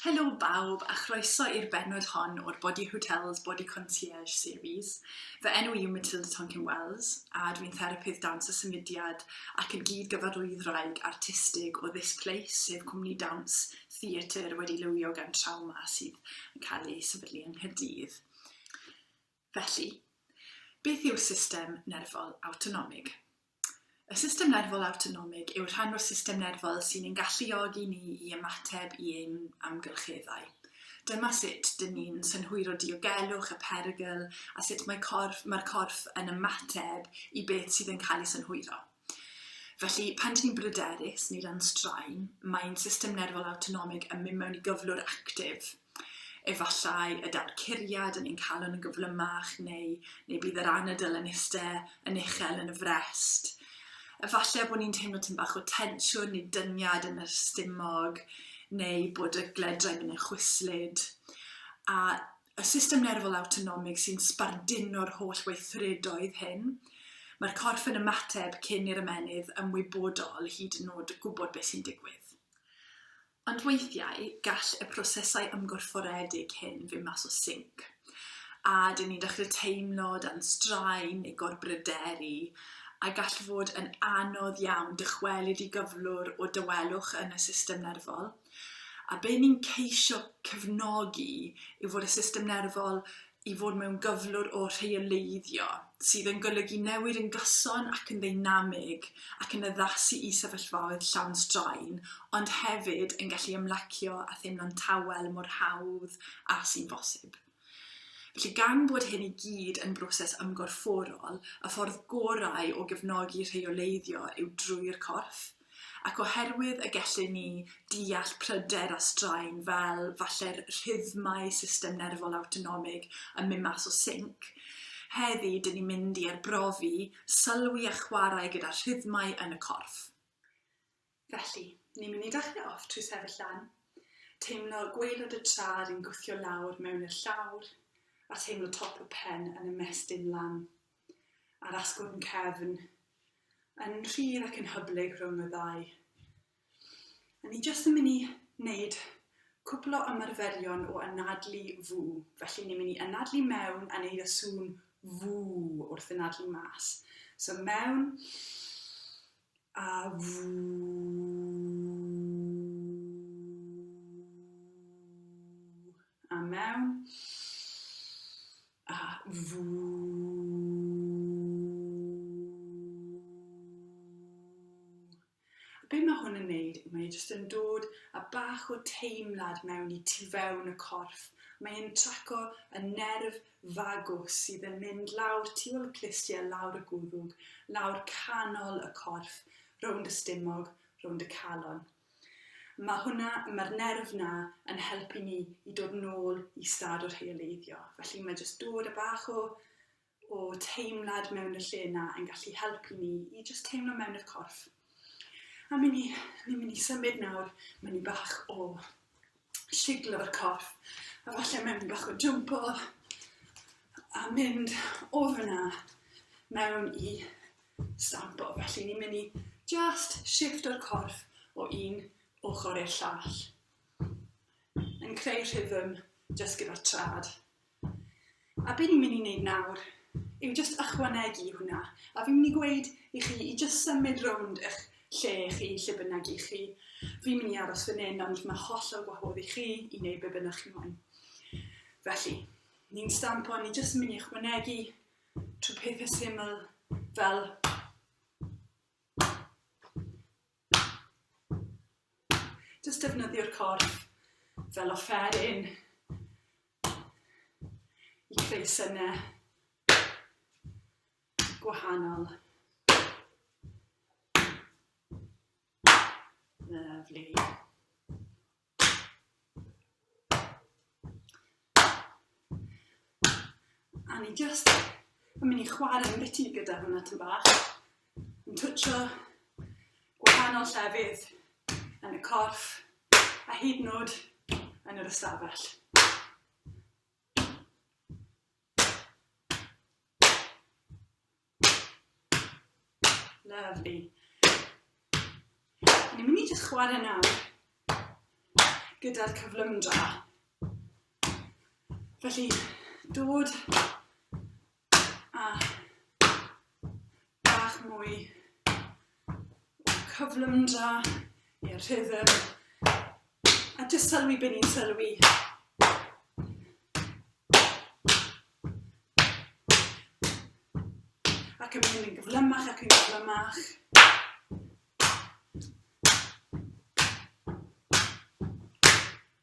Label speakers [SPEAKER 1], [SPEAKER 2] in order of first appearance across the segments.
[SPEAKER 1] Helo bawb a chroeso i'r bennod hon o'r Body Hotels Body Concierge Series. Fy enw i yw Matilda Tonkin Wells a dwi'n therapydd dawns a symudiad ac yn gyd-gyfarwyddwraig artistig o This Place, sef cwmni dawns theatr wedi lywio gan trawma sydd yn cael ei sefydlu yng Nghaerdydd. Felly, beth yw system nerfol awtonomig? Y system nerfol awtonomig yw rhan o'r system nerfol sy'n ein galluogi ni i ymateb i ein amgylcheddau. Dyma sut dyn ni'n synhwyro diogelwch y perygl a sut mae corff, mae'r corff yn ymateb i beth sydd yn cael ei synhwyro. Felly, pan dyn ni'n bryderus neu dan straen, mae ein system nerfol awtonomig yn mynd mewn i gyflwr actif. Efallai y daw'r curiad yn ein calon yn gyflymach, neu, neu bydd yr anadl yn iste yn uchel yn y frest. Efallai bod ni'n teimlo tyn bach o tensiwn neu dyniad yn yr stumog, neu bod y gledrau mynd yn chwyslyd. A y system nerfol awtonomig sy'n sbarduno'r holl weithredoedd hyn. Mae'r corff yn ymateb cyn i'r ymennydd ymwybodol hyd yn nod gwybod beth sy'n digwydd. Ond weithiau, gall y prosesau ymgorfforedig hyn fynd mas o sync, a dyn ni'n dechrau teimlo dan straen neu gorbryderu, a gall fod yn anodd iawn dychwelyd i gyflwr o dawelwch yn y system nerfol. A be ni'n ceisio cefnogi yw fod y system nerfol i fod mewn gyflwr o rheoleiddio, sydd yn golygu newid yn gyson ac yn ddeinamig ac yn addasu i sefyllfaoedd llawn straen, ond hefyd yn gallu ymlacio a theimlo'n tawel mor hawdd â sy'n bosib. Felly, gan bod hyn i gyd yn broses ymgorfforol, y ffordd gorau o gefnogi rheoleiddio yw drwy'r corff, ac oherwydd y gellyn ni ddeall pryder a straen fel, falle'r rhythmau system nerfol awtonomig yn mynd mas o sync, heddi dyn ni'n mynd i arbrofi, sylwi a chwarae gyda rhythmau yn y corff. Felly, ni'n mynd i dachre off trwy sefyll lan, teimlo gwaelod y tra yr un gwthio lawr mewn i'r llawr, a teimlo top y pen yn ymestyn lan, a'r asgwrn cefn yn rhydd ac yn hyblyg rhwng y ddau. A ni jyst yn mynd i wneud cwpl o ymarferion o anadlu fw, felly ni'n mynd i anadlu mewn a neud y sŵn fw wrth anadlu mas. So mewn, a fu a mewn a fu be mae hwn yn neud, mae e jyst yn dod a bach o teimlad mewn i tu fewn y corff. Mae'n traco y nerf fagwth sydd yn mynd lawr tu ol clustiau lawr y gwddwg, lawr canol y corff, rownd y stumog, rownd y calon. Mae hwnna, mae'r nerf na yn helpu ni i dod nôl i stad o rheoleiddio. Felly mae jyst dod a bach o, o teimlad mewn y lle na yn gallu helpu ni i jyst teimlo mewn y corff. A mi'n ni, ni'n mynd i symud nawr, mae'n ni bach o shiglo'r corff a falle mewn bach o jwmpo a mynd o fyna mewn i stampo. Felly ni'n mynd i just shift o'r corff o un ochr i'r llall. Yn creu rhythm just gyda'r trad. A be ni'n mynd i wneud nawr yw jyst ychwanegu i hwnna, a fi'n mynd i gweud i chi i jyst symud rownd eich lle chi, lle bynnag i chi. Fi'n mynd i aros fan hyn, ond mae hollol gwahodd i chi i wneud be bynnag chi moyn. Felly, ni'n stampo, ni jyst yn mynd i ychwanegu trwy pethau syml fel Just defnyddio'r corff fel offeryn i creu synnau gwahanol. Lyfli. A ni jyst yn mynd i chwarae yn biti gyda hwnna tyn bach. Yn twtio gwahanol llefydd yn y corff a hyd yn oed yn yr ystafell. Lovely. Ni'n mynd i jyst chwarae nawr gyda'r cyflymdra. Felly, dod a bach mwy Cyflym da i'r rhythm. A jyst sylwi be ni'n sylwi. Ac yn mynd yn gyflymach ac yn gyflymach.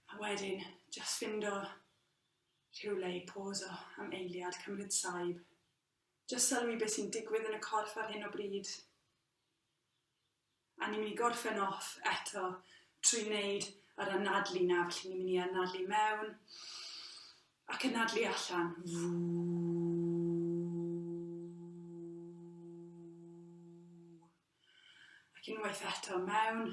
[SPEAKER 1] A wedyn, jyst fynd o rhywle i pôs o am eiliad, cymryd saib. Jyst sylwi be sy'n digwydd yn y corff ar hyn o bryd. A ni'n mynd i gorffen off eto trwy wneud yr anadlu na, felly ni'n mynd i anadlu mewn ac anadlu allan. Ac unwaith eto mewn.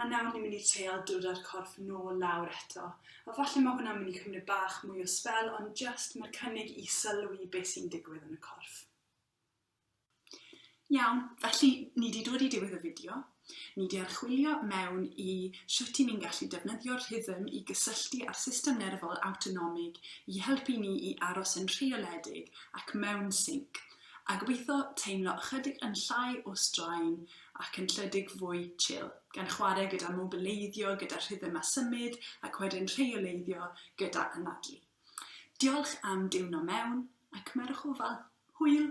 [SPEAKER 1] A nawr ni'n mynd i treial dod â'r corff nôl lawr eto. A falle ma' hwnna'n mynd i cymryd bach mwy o sbel ond jyst ma'r cynnig i sylwi be' sy'n digwydd yn y corff. Iawn, felly ni 'di dod i diwedd y fideo. Ni 'di archwilio mewn i shwt 'yn ni'n gallu defnyddio'r rhythm i gysylltu â'r system nerfol awtonomig i helpu ni i aros yn rheoledig ac mewn sync, a gobeitho teimlo ychydig yn llai o straen ac yn lledig fwy chill, gan chwarae gyda mobileiddio, gyda rhythm a symud, ac wedyn rheoleiddio gyda anadlu. Diolch am diwno mewn, a cymerwch ofal. Hwyl!